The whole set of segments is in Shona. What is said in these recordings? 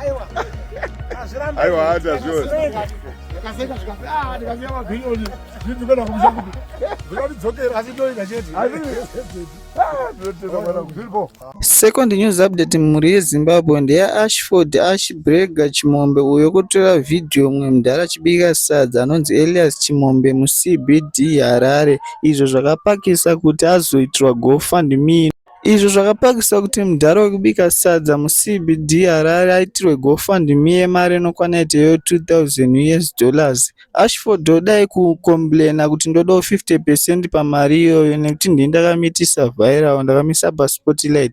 Aiwa. Azvirambe. Aiwa hati azviona. Akaseka zvikapi. Ah, ndikaziva mabhirioni. Zvinzi kwenda kumusha kuti. Zvinodidzokera asi ndoida chete. Asi. Ah, ndotenda mwana kuzviripo. Second news update mhuri yeZimbabwe ndeyaAshford Ashbrega Chimombe uyo kutora vhidhiyo umwe mudhara achibika sadza anonzi Elias Chimombe muCBD Harare izvo zvakapakisa kuti azoitirwa GoFundMe. izvo zvakapakisa kuti mudhara wekubika sadza muCBD Harare aitirwe gofundme yemari inokwana yete yo 2000 us dollars. Ashford odai kukomburena kuti ndodawo 50 percent pamari iyoyo nekuti ndini ndakamitisa vhayirawo, ndakamisa paSpotlight.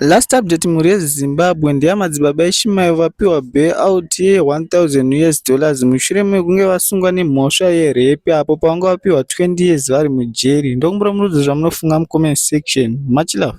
Last update mhuri yezimbabwe ndeyamadzibaba eshimayo vapiwa bayout ye 1000 years dollars mushure mekunge vasungwa nemhosva yerepi apo pavanga vapiwa 20 years vari mujeri ndokumbira murudzo zvamunofunga mucomment section much love